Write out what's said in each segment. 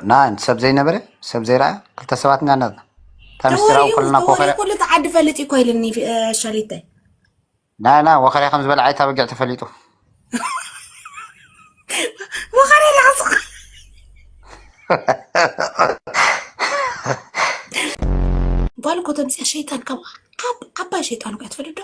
ና ሰብ ዘይነበረ ሰብ ዘይረኣ ክልተ ሰባት ኢና ናትና እታ ምስጢራዊ ተወሪኡ ኮለና ተወሪኡ ኮኸረ ኩሉ እቲ ዓዲ ፈልጥ እዩ ኮይልኒ ሸሊተይ ና ና ወኸረ ከም ዝበለ ዓይታ በጊዕ ተፈሊጡ ወኸረ ላዕስኻ ጓል እኮ ተምፅያ ሸይጣን ካብ ዓብ- ዓባይ ሸይጣን እኮ እያ ትፈልጥ ዶ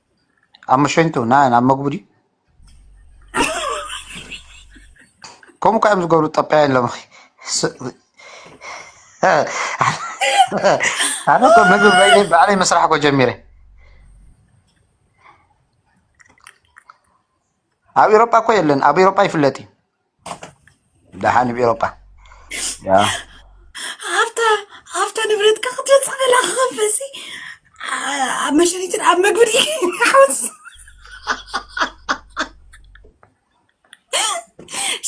ኣብ መሸኝቱ ና ናብ መግቡ ድዩ ከምኡ ካ እዮም ዝገብሩ ጠጳያን ሎምኺ ኣነ እኮ ምግቢ በይነ ባዕለይ መስራሕ እኮ ጀሚረ ኣብ ኤሮጳ እኮ የለን ኣብ ኤሮጳ ይፍለጥ እዩ ደሓን ብ ኤሮጳ ኣብታ ኣብታ ንብረትካ ክትወፅእ ከላ ክኸፈሲ ኣብ መሸኒትን ኣብ መግቢ ሓወስ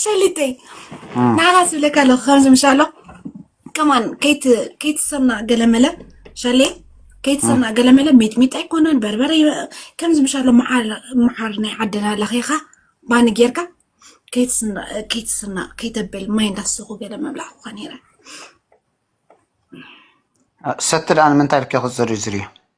ሸሊተይ ንዓኻ ዝብለካ ኣለኹ ከምዚ ምሻ ኣሎ ከማን ከይትሰምና ገለመለ ሸሌ ከይትሰምና ገለመለ ሚጥሚጣ ኣይኮነን በርበረ ከምዚ ምሻሎ መዓር ናይ ዓድና ለኺኻ ባኒ ጌርካ ከይትስና ከይተብል ማይ እንዳሰኹ ገለ ምብላዕ ክኾ ነይረ ሰቲ ደኣ ንምንታይ ልከ ክዝርዝር እዩ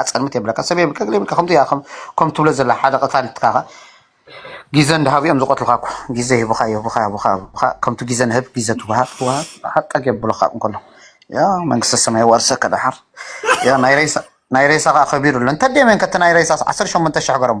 ኣጸልምት የብለካ ሰብ የብልካ ገለ የብልካ ከምዚ ኢካ ከም ትብሎ ዘለካ ሓደ ቀታሊ ትካካ ግዘ እንዳሃቡ እዮም ዝቀትሉካ እኮ ግዘ ይህቡካ ይህቡካ ይህቡካ ይህቡካ ከምቲ ግዘ ንህብ ግዘ ትወሃብ ትወሃብ ሓጣግ የብሉካ እንከሎ ያ መንግስተ ሰማይ ዋርሰከ ደሓር ያ ናይ ሬሳ ናይ ሬሳ ከዓ ከቢሩ ኣሎ እንተደይ መን ከቲ ናይ ሬሳ ዓሰርተ ሸሞንተ ሽሕ ገረሞ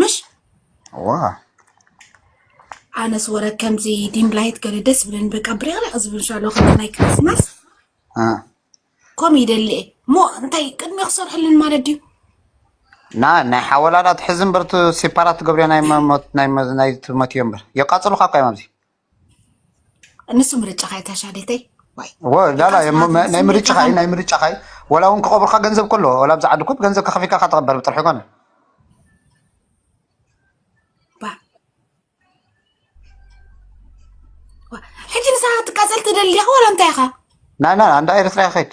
ምሽ ዋ ኣነስ ወረ ከምዚ ዲም ላይት ገለ ደስ ብለን በቃ ብሪቕሪቕ ዝብል ሻሎ ከም ናይ ክርስማስ እ፣ ከምኡ ይደሊ እየ እሞ እንታይ ቅድሚ ክሰርሐልን ማለት ድዩ ና ናይ ሓወላላ ትሕዚ እምበር እቲ ሴፓራት ትገብርዮ ናይ መ- ሞት- ናይ መ- ናይ እቲ ሞት እዮ እምበር የቃፅሉካ እኳ እዮም ኣብዚ ንሱ ምርጫኻ እታ ሻዴተይ ላላ ናይ ምርጫኻ እዩ ናይ ምርጫኻ እዩ ወላ እውን ክቐብርካ ገንዘብ ከሎ ወላ ብዛ ዓዲ ኮብ ገንዘብ ከኸፊልካ ካ ተቐበር ብጥርሒ ኮነ ሕጂ ንሳ ትቃፀል ትደሊ ዲኻ ወላ እንታይ ኢኻ ናና እንዳ ኤርትራ ይኸይድ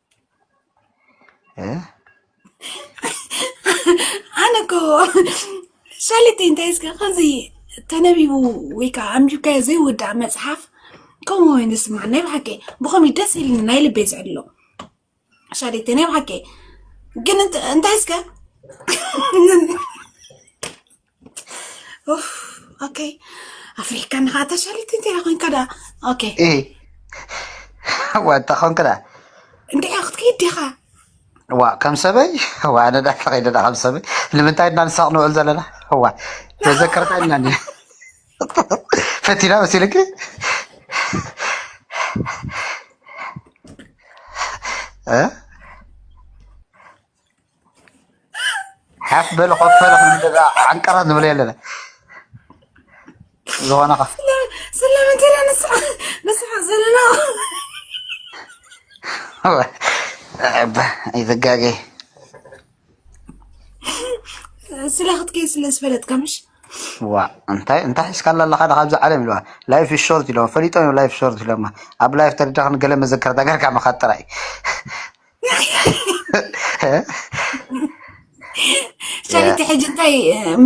እ? ኣነ እኮ ሻሊት እንታይ እስከ ከምዚ ተነቢቡ ወይ ከዓ ኣንቢብካዮ ዘይውዳእ መፅሓፍ ከምኡ ወይን ዝስማዕ ናይ ብሓቂ ብኸምኡ ደስ ኢልኒ ናይ ልበይ ዝዕሎ ሻሊት ናይ ብሓቂ ግን እንት- እንታይ እስከ ኡፍ ኦኬ ኣፍሪካ ንኻ ተሻሊት እንታይ ኮንካ ዳ ኦኬ እይ ዋታ ኾንክዳ እንታይ ክትከይድ ዲኻ ዋ ከም ሰበይ ዋ ኣነ ዳ ተኸይደና ከም ሰበይ ንምንታይ እና ንሳቕ ንውዕል ዘለና ዋ መዘከርታ ኢና እኒ ፈቲና መሲልኪ እ? ሓፍ በለ ኮፍ በለ ክንደዛ ዓንቀራ ንብለ የለና ዝኾነ ከ ስለምንታይ ኢና ንስሓቅ ንስሓቅ ዘለና ይዘጋገ ስለ ክትከይ ስለ ዝፈለጥካ ምሽ ዋ እንታይ እንታይ ሒዝካ ኣለካ ዳ ካብዚ ዓለም ኢልዋ ላይፍ ሾርት ኢለዋ ፈሊጦም እዮም ላይፍ ሾርት ኢሎማ ኣብ ላይፍ ተደዳ ክንገለ መዘከርታ ገርካ ምካድ ጥራይ ሸሪቲ ሕጂ እንታይ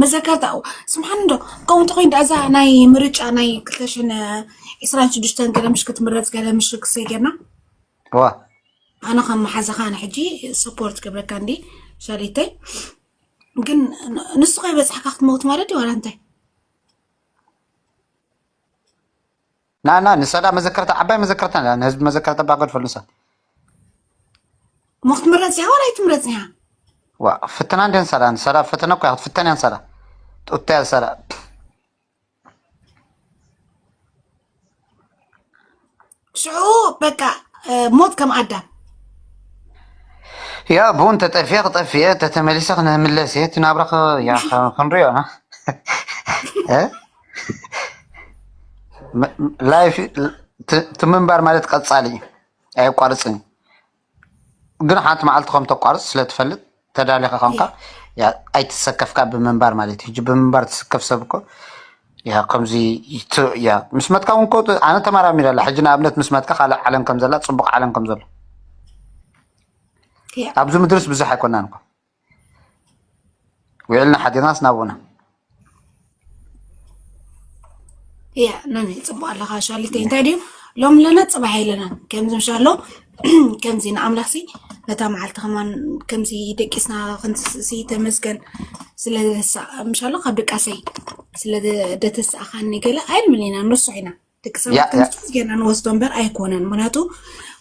መዘከርታ ስብሓን ዶ ከምኡ እንተኮይኑ ዳእዛ ናይ ምርጫ ናይ ክልተ ሽሕን ዕስራን ሽዱሽተን ገለ ምሽ ክትምረፅ ገለ ምሽ ክሰይ ጌርና ዋ ኣነ ከም መሓዛኻ ኣነ ሕጂ ሰፖርት ገብረካ እንዲ ሸሪተይ ግን ንሱ ከይበፅሕካ ክትመውት ማለት እዩ ዋላ እንታይ ና ና ንሳ ዳ መዘከርታ ዓባይ መዘከርታ ዳ ንህዝቢ መዘከርታ ባ ገድፈሉ ንሳ እሞ ክትምረፅ ኢኻ ዋላ ኣይትምረፅን ኢኻ ዋ ፍትና እንደ ንሳ ዳ ንሳ ዳ ፈተነ እኮ እያ ክትፍተን እያ ንሳ ዳ ጡታ እያ ንሳ ዳ ሽዑ በቃ እ፣ ሞት ከም ኣዳም ያ ብውን ተጠፊየ ክጠፊ እየ ተተመሊሰ ክንምለስ እየ እቲ ናብራ ከ- ያ ከ- ክንሪኦ ኢና እ? ላይፍ እቲ ምንባር ማለት ቀፃሊ እዩ ኣየቋርፅን እዩ ግን ሓንቲ መዓልቲ ከም ተቋርፅ ስለትፈልጥ ተዳሊኻ ከምካ ኣይትሰከፍካ ብምንባር ማለት እዩ ብምንባር ትስከፍ ሰብ እኮ ያ ከምዚ ያ ምስ መትካ እውን ኣነ ተመራሚረ ኣላ ሕጂ ንኣብነት ምስ መትካ ካልእ ዓለም ከም ዘላ ፅቡቅ ዓለም ከም ዘሎ ኣብዚ ምድርስ ብዙሕ ኣይኮናን እኮ ውዒልና ሓዲርናስ ናብኡና እያ ኖኒ ፅቡቅ ኣለካ ሻሊተይ እንታይ ድዩ ሎም ኣለና ፅባሕ የለናን ከምዚ ምሻሎ ከምዚ ንኣምላኽ ሲ በታ መዓልቲ ከማን ከምዚ ደቂስና ክንትስእሲ ተመስገን ስለምሻሎ ካብ ደቃሰይ ስለደተስኣኻኒ ገለ ኣይልምን ኢና ንርሱዕ ኢና ደቂ ሰባት ከምዚ ጌርና ንወስዶ እምበር ኣይኮነን ምክንያቱ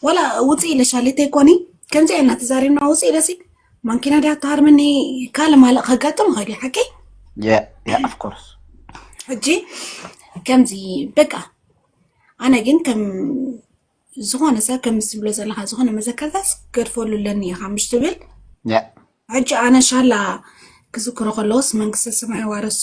ዋላ ውፅእ ኢለሻ ሌተይ ኮኒ ከምዚ ኢና ተዛሪብና ውፅእ ኢለሲ ማንኪና ድያ ተሃርመኒ ካልእ ማለእ ከጋጥም ይኽእል እዩ ሓቂ ኣፍኮርስ ሕጂ ከምዚ በቃ ኣነ ግን ከም ዝኾነ ሰብ ከምዚ ትብሎ ዘለካ ዝኾነ መዘከርታስ ገድፈሉ ኣለኒ ኢኻ ምሽ ትብል ሕጂ ኣነ ሻላ ክዝክሮ ከለዎስ መንግስተ ሰማይ ዋረሶ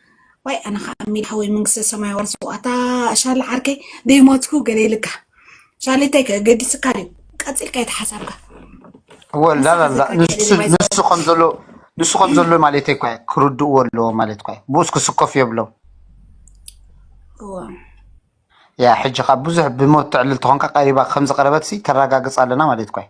ዋይ ኣነ ከኣ ሚሊ ሓወይ መንግስተ ሰማይ የዋርሶ ኣታ ሻለ ዓርከይ ደይሞትኩ ገለ ኢልካ ሻሌታይ ከ ገዲስካ ድዩ ቀጺልካ ኢቲ ሓሳብካ ወላ ንስኻ ላላ ተጋጊ ንሱ ገዲማይ ንሱ ዝኸበርኩ ከም ዘሎ ንሱ ከም ዘሎ ማለት እኮ እዩ ክርድእዎ ኣለዎ ማለት እኮ እዩ ብኡስ ክስከፉ የብሎም እወ ያ ሕጂ ካብ ብዙሕ ብሞት ተዕልል ተኾንካ ቀሪባ ከም ዝቐረበትሲ ተረጋግጽ ኣለና ማለት እኮ እዩ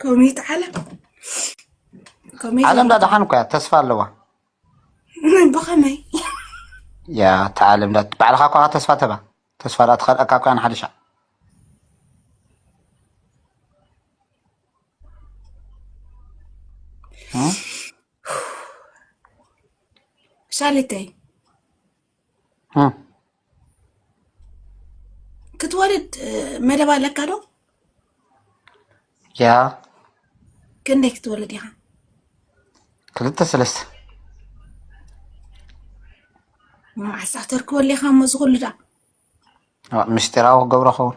ኮሚት ዓለም ዓለም ዳድሓን እኳ ተስፋ ኣለዋ ብኸመይ ያ እቲ ዓለም ባዕልኻ እኳ ተስፋ ተባ ተስፋ ዳኣ ትኸልኣካ እኳ ንሓደ ሻዕ ሻሊተይ ክትወልድ መደብ ኣለካ ዶ? ያ ክንደይ ክትወልድ ኢኻ ክልተ ሰለስተ መዓሳ ተርክበሉ ኢኻ እሞ እዚ ኩሉ ድኣ ምስጢራዊ ክገብሮ ኸውን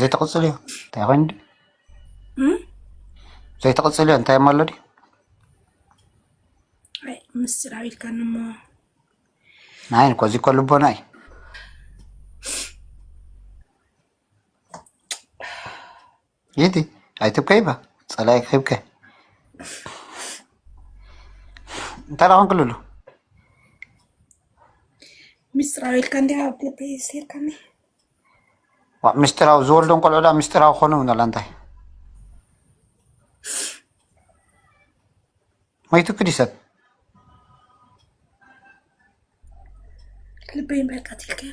ዘይተቕፅል እዮ እንታይ ኮይኑ ድዩ ዘይተቕፅል እዮ እንታይ እሞ ኣሎ ድዩ ኣይ ምስጢር ኣቢልካኒ እሞ ናይ እኮ እዚ እኮ ልቦና እዩ ጌቲ ኣይትብከይ እባ ፀላኢ ክብከ እንታይ ደኣ ክንክልሉ ምስጢራዊ ኢልካ እንዲያ ኣብ ልበይ ሴርካኒ ዋዕ ምስጢራዊ ዝወልዶም ቆልዑ ደኣ ምስጢራዊ ክኾኑ ንላ እንታይ ሞይቱ ክዲ ሰብ ልበይ እምበር ቀቲልካዮ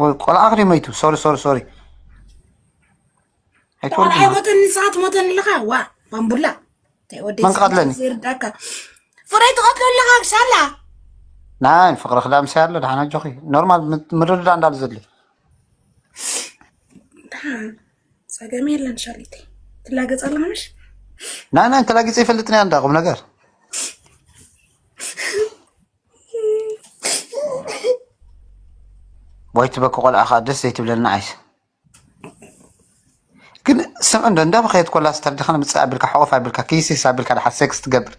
ወይ ቆልዓ ክሪ መይቱ ሶሪ ሶሪ ሶሪ ቆልዓ ሞተኒ ሰዓት ሞተኒ ኣለኻ ዋ ባምቡላ መን ቀትለኒ ይርዳካ ፍረ ትቐትሎ ኣለኻ ክሳላ ናይ ፍቅሪ ክዳ ምሳይ ኣሎ ደሓን ኣጆኺ ኖርማል ምርድዳ እንዳሉ ዘድልዩ ፀገም የለን ሻሊተ ትላገፅ ኣለምሽ ናይ ናይ ተላጊፀ ይፈልጥኒ እንዳ ቁም ነገር ዋይ ትበኪ ቆልዓ ከዓ ደስ ዘይትብለና ዓይስ ግን ስምዕ እንዶ እንዳ በኸየት ኮላ ስተርድኻ ንምፅእ ኣቢልካ ሕቆፍ ኣቢልካ ክይሲስ ኣቢልካ ድሓ ሴክስ ትገብር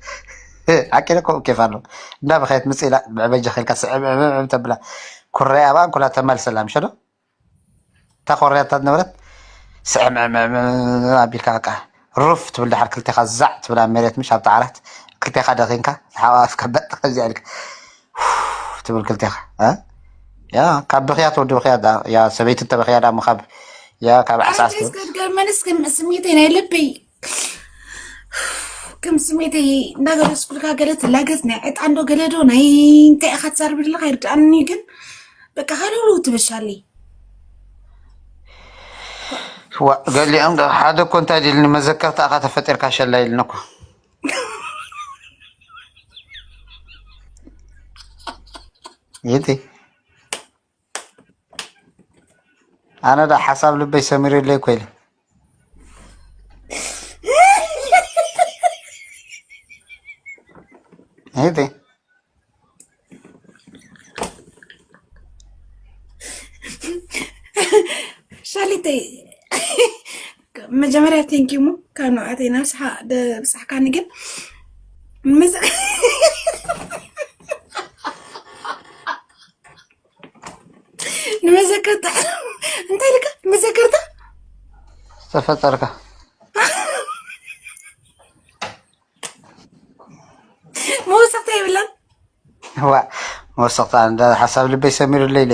ሓቂ ዶ ከምኡ ኬፍ ኣሎ እንዳ በኸየት ምፅ ኢላ ብዕበጃ ኸልካ ስዕብዕብዕብ ተብላ ኩረይ ኣብኣ እንኩላ ተመልሰላ ምሸ ዶ እታ ኮርያታ ዝነበረት ስዕምዕምዕም ኣቢልካ በቃ ሩፍ ትብል ድሓር ክልቴኻ ዛዕ ትብል ኣብ መሬት ምሽ ኣብቲ ዓራት ክልቴኻ ደኺንካ ተሓቋፍካ በጥ ከምዚኣ ኢልካ ትብል ክልቴኻ እ? ያ ካብ ብኽያ ትወዲ ብኽያ ዳ ያ ሰበይቲ እንተበኽያ ዳሞ ካብ ያ ካብ ዓስዓስ ኣንተ ትብል እስከ ድገመኒ እስከ ስሜተይ ናይ ልበይ ከም ስሜተይ እንዳገለጽኩልካ ገለ ትላገጽ ናይ ዕጣንዶ ገለዶ ናይ እንታይ ኢኻ ትዛርብ ዘለካ ይርድኣኒ ግን በቃ ሃለሉ ትበሻሊ ዋ ገሊኦም ዶ ሓደ እኮ እንታይ ድልኒ መዘከርታ እኻ ተፈጢርካ ሸላ ኢልኒ እኮ ይእቲ ኣነ ዳ ሓሳብ ልበይ ሰሚሩለይ እኮ ኢለ እህቲ ሻሊተይ መጀመርያ ቴንኪ ሙ ካብ ንብዓተይ ናብ ስሓ ብፅሕካኒ ግን ምስ ንመዘከርታ እንታይ ልካ መዘከርታ ዝተፈጠርካ መወሰኽታ የብላን ዋ መወሰኽታ እንዳ ሓሳብ ልበይ ሰሚሩለይ ኢለ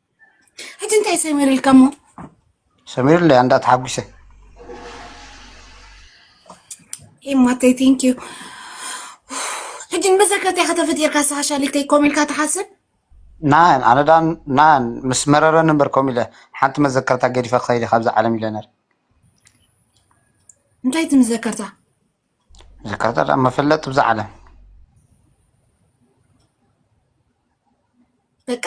ሕጂ እንታይ ሰሚር ኢልካ እሞ ሰሚር ለያ እንዳ ተሓጒሰ ኤማተይ ቴንክ ዩ ሕጂ ንመዘከርታ ኢኻ ተፈጢርካ ንስኻ ሻሊተይ ኮም ኢልካ ትሓስብ ናን ኣነ ዳ ናን ምስ መረረ ነበር ኮም ኢለ ሓንቲ መዘከርታ ገዲፈ ክኸይድ ኢኻ ኣብዚ ዓለም ኢለ ነር እንታይ ትምዘከርታ ዝካታል ኣብ መፈለጥ ብዛ ዓለም በቃ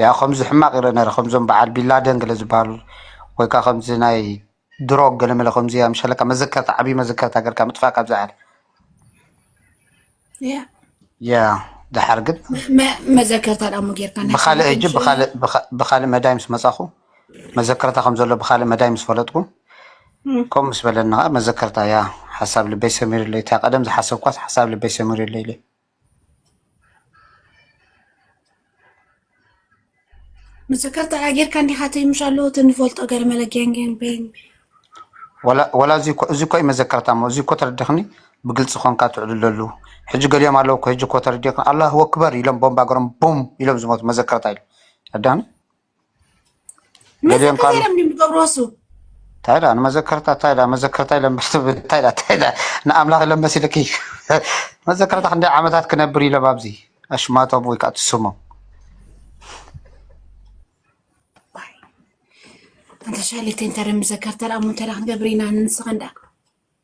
ያ ከምዚ ሕማቅ ይረ ነረ ከምዞም በዓል ቢላደን ገለ ዝበሃሉ ወይ ከዓ ከምዚ ናይ ድሮ ገለመለ ከምዚ ኣምሸለካ መዘከርታ ዓብዪ መዘከርታ ገርካ ምጥፋእ ካብዛ ዓለም ያ ድሓር ግን መዘከርታ ዳሞ ጌርካ ብካልእ ሕጂ ብካልእ መዳይ ምስ መፃኹ መዘከርታ ከም ዘሎ ብካልእ መዳይ ምስ ፈለጥኩ ከምኡ ምስ በለኒ ከዓ መዘከርታ ያ ሓሳብ ልበይ ሰሚሩለይ እታ ቀደም ዝሓሰብኳስ ሓሳብ ልበይ ሰሚሩለይ ኢለ ምስክር ተጋጊርካ እንዲኻ ተይምሽ ኣለዎ እቲ ንፈልጦ ገርመለ ጌንጌን ቤን ወላ እዚ እኮ እዚ እኮ እዩ መዘከርታ እሞ እዚ እኮ ተረዲኽኒ ብግልፂ ኮንካ ትዕልለሉ ሕጂ ገሊኦም ኣለዉ እኮ ሕጂ እኮ ተረዲኽኒ ኣላሁ ኣክበር ኢሎም ቦምባ ገሮም ቦም ኢሎም ዝሞቱ መዘከርታ ኢሉ ረዳኒ መዘከርታ ኢሎም ንገብሮ እሱ እንታይ ዳ ንመዘከርታ እንታይ ዳ መዘከርታ ኢሎም እንታይ ዳ እንታይ ዳ ንኣምላኽ ኢሎም መሲልኪ መዘከርታ ክንደይ ዓመታት ክነብር ኢሎም ኣብዚ ኣሽማቶም ወይ ከዓ ትስሞም ኣንተ ሻሊት እንተ መዘከርታ ደኣ እሞ እንታይ ዳ ክንገብር ኢና ንስኻ እንዳ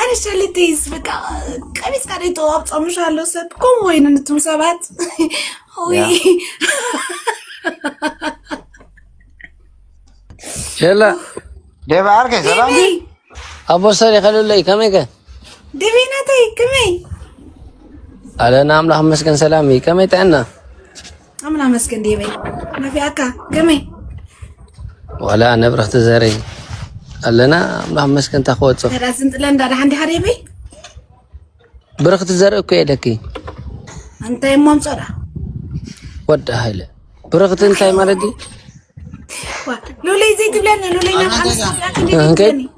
ኣነ ሸልተይስ በቃ ቀቢፅካ ደይ ተዋብፆምሽ ኣሎ ሰብ ከምኡ ወይኑ ንቱም ሰባት ወይ ሸላ ደባ ዓርከይ ሰላም ዲቢ ኣቦ ሰሪ ከልለይ ከመይ ከ ዲቢ ናተይ ከመይ ኣለና ኣምላኽ መስገን ሰላም እዩ ከመይ ጥዕና ኣምና መስገን ዴበይ ነፊኣካ ገመይ ዋላ ነብረኽቲ ዘረይ ኣለና ኣምላኽ መስገን እንታ ክወፆ ዳት ዝንጥለ እንዳ ዳሓንዲ ሓደ በይ ብረኽቲ ዘርኢ እኮ የደኪ እንታይ እሞ ምፆዳ ወዲ ሃይለ ብረኽቲ እንታይ ማለት እዩ ሉለይ ዘይትብለኒ ሉለይ ናብኣንስያክንደይ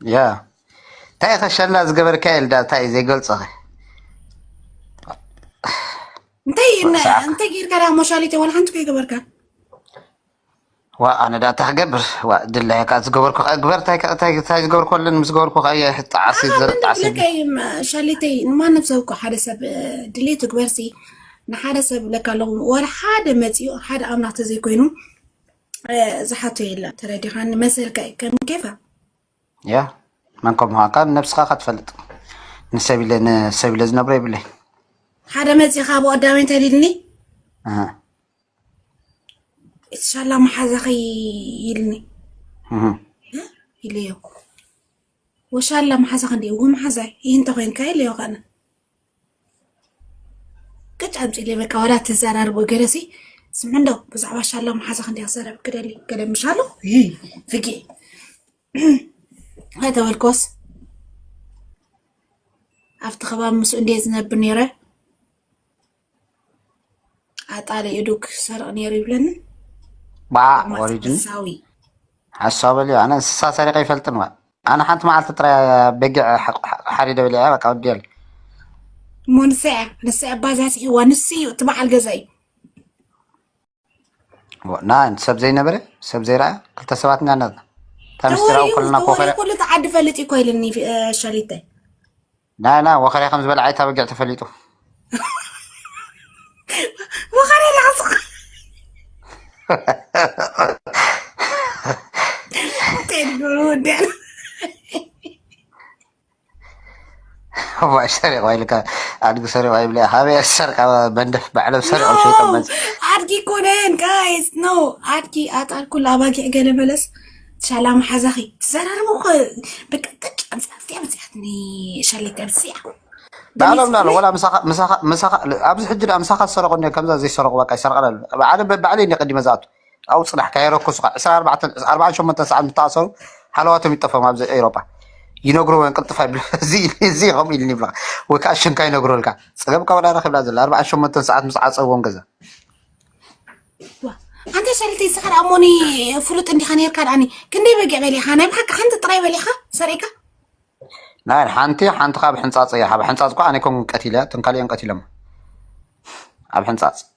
ያ እንታይ ኢኸ ሸላ ዝገበርካ የልዳ እንታይ እዩ ዘይገልጾኸ እንታይ ወዲ ሰዓት እንታይ ጌርካ ዳ ሞሻሊተ ዋላ ሓንቲ ከይገበርካ ዋ ኣነ ዳ እንታይ ክገብር ዋ ድላይ ከ ዝገበርኩ ከ ግበር እንታይ ከ- እንታይ እንታይ ዝገበርኩ ኣለኒ ምስ ገበርኩ ከ እየ ጣዕሲ ንዓኻ ዘር ግን ጣዕሲ ዝብለካ እዩ ም- ሻሊተይ ንማንም ሰብ እኮ ሓደ ሰብ እ፣ ድሌት ትግበርሲ ንሓደ ሰብ ብለካ ኣለኹ ዋላ ሓደ መፂኡ ሓደ ኣምላኽ ተዘይኮይኑ ዝሓቶ የለን ተረዲኻኒ መሰልካ እዩ ከም ኬፋ ያ መን ከም ምዃንካ ንነብስኻ እካ ትፈልጥ ንሰብ ኢለ ንሰብ ኢለ ዝነብሮ የብለይ ሓደ መፂኻ ብኦ ዳዊን ተሊልኒ እህ፣ ኢንሻላ መሓዛኺ ይልኒ እህ። ኢለዮ ወሻላ መሓዛኺ እንዲ እዎ መሓዛይ ይህንተ ኮንካ ኢለዮ ከነ ቅጭ ኣምፅእለይ በቃ ዋላ ተዘራርቦ ገለሲ ስምዕ እንዶ ብዛዕባ ሻላ መሓዛ ክንደይ ክዛረብ ክደሊ ገለ ምሻሎ ፍጌ ኣይተበልኮስ ኣብቲ ከባቢ ምስኡ እንደ ዝነብር ነይረ ኣጣሊ እዱ ክሰርቕ ነይሩ ይብለኒ ባዕ ወሪድን ሳዊ ሓሳብ በልዮ ኣነ እንስሳ ሰሪቀ ይፈልጥን ዋ ኣነ ሓንቲ መዓልቲ ጥራይ በጊዕ ሓሪደ በሊዐ በቃ ወዲያል እሞ ንሳ እያ ንሳ እያ ኣባዛፂሕዋ ንሱ እዩ እቲ በዓል ገዛ እዩ ንኣን ሰብ ዘይነበረ ሰብ ዘይረኣ ክልተ ሰባት ኢና ነርና እታ ምስጢራዊ ኮለና ኮኸረ ኩሉ እቲ ዓዲ ፈልጥ እኮ ኢልኒ ሸሪተ ናና ወኸረ ከም ዝበልዓ እታ በጊዕ ተፈሊጡ ወኸረ ላዕሱ ጤድጉ ወዲያ ዋይ ሰሪቑ ኢልካ ኣድጊ ሰሪቑ ይብለ ካበይ ዝሰርቃ መንደፍ ባዕሎም ሰሪቖም ሸይጦም መፅ ኣድጊ ኮነን ጋይስ ኖ ኣድጊ ኣጣል ኩሉ ኣባጊዕ ገለ በለስ ሻላ መሓዛኺ ትዘራርቡ እኮ በቃ ቅጭ ኣምፅኣ እዚኣ መፅኣት ሸለተ ኣምፅኣ ባዕሎም ዳሎ ወላ ምሳኻ ኣብዚ ሕጂ ዳ ምሳኻ ዝሰረቑ እኒ ከምዛ ዘይሰረቑ በቃ ይሰርቃ ባዕለ ባዕለይ እኒ ቅድመ ዝኣቱ ኣብኡ ፅናሕ ከየረከሱኻ ዕስራን ኣርባዕተን ኣርባዓን ሸሞንተን ሰዓት ምስ ተኣሰሩ ሃለዋቶም ይጠፍኦም ኣብዚ ኤውሮጳ ይነግርዎ እዮም ቅልጥፍ ኣይብሉ እዚ እዚ ከምኡ ኢልኒ ይብልኻ ወይ ከዓ ሽምካ ይነግረልካ ፀገም ካብ ወላ ረኪብላ ዘላ ኣርባዓን ሸሞንተን ሰዓት ምስ ዓፀዎም ገዛ ዋ፣ ኣንታ ሸሪተ ንስኻ ደኣ እሞኒ ፍሉጥ እንዲኻ ነርካ ደኣኒ ክንደይ በጊዕ በሊኻ ናይ ብሓቂ ሓንቲ ጥራይ በሊኻ ሰሪዕካ ናይ ሓንቲ ሓንቲ ካብ ሕንፃፅ እያ ካብ ሕንፃፅ እኳ ኣነ ኮን ቀቲለ እቶም ካልኦም ቀቲሎም ኣብ ሕንፃፅ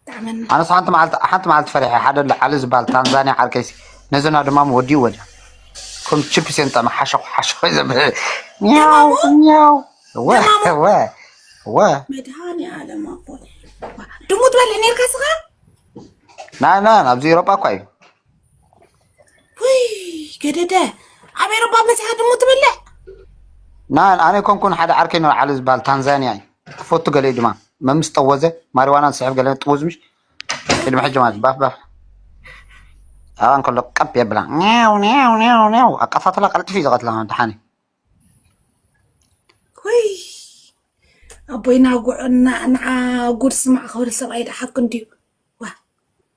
ይጥዕመና። ኣነስ ሓንቲ መዓልቲ ሓንቲ መዓልቲ ፈሪሐ ሓደ ኣሎ ዓሊ ዝበሃል ታንዛንያ ዓርከይሲ ነዘና ድማ ወዲኡ ወዲያ ከም ቺፕስ እየን ጠመ ሓሸኹ ሓሸኹ ዘብለ ኛው ኛው ወ ወ ወ መድሃኒ ዓለም ኣቦይ ድሙ ትበልዕ ነርካ ስኻ ናይ ናይ ኣብዚ ኤሮጳ እኳ እዩ ውይ ገደደ ኣብ ኤሮፓ በፂሓ ድሙ ትበልዕ ና ኣነ ኮንኩን ሓደ ዓርከይ ነር ዓሊ ዝበሃል ታንዛንያ እዩ ትፈቱ ገለ እዩ ድማ መምስ ጠወዘ ማሪዋና ዝስሕብ ገለ ጥውዝ ምሽ ቅድሚ ሕጂ ማለት ባፍ ባፍ ኣብኣ እንከሎ ቀብ የብላ ኒው ኒው ኒው ኒው ኣቃታትላ ቀልጥፊ እዩ ዝቐትላ ድሓኒ ወይ ኣቦይና ጉዕ ንዓ ጉድ ስማዕ ክብል ሰብኣይ ድሓኩ እንድዩ ዋ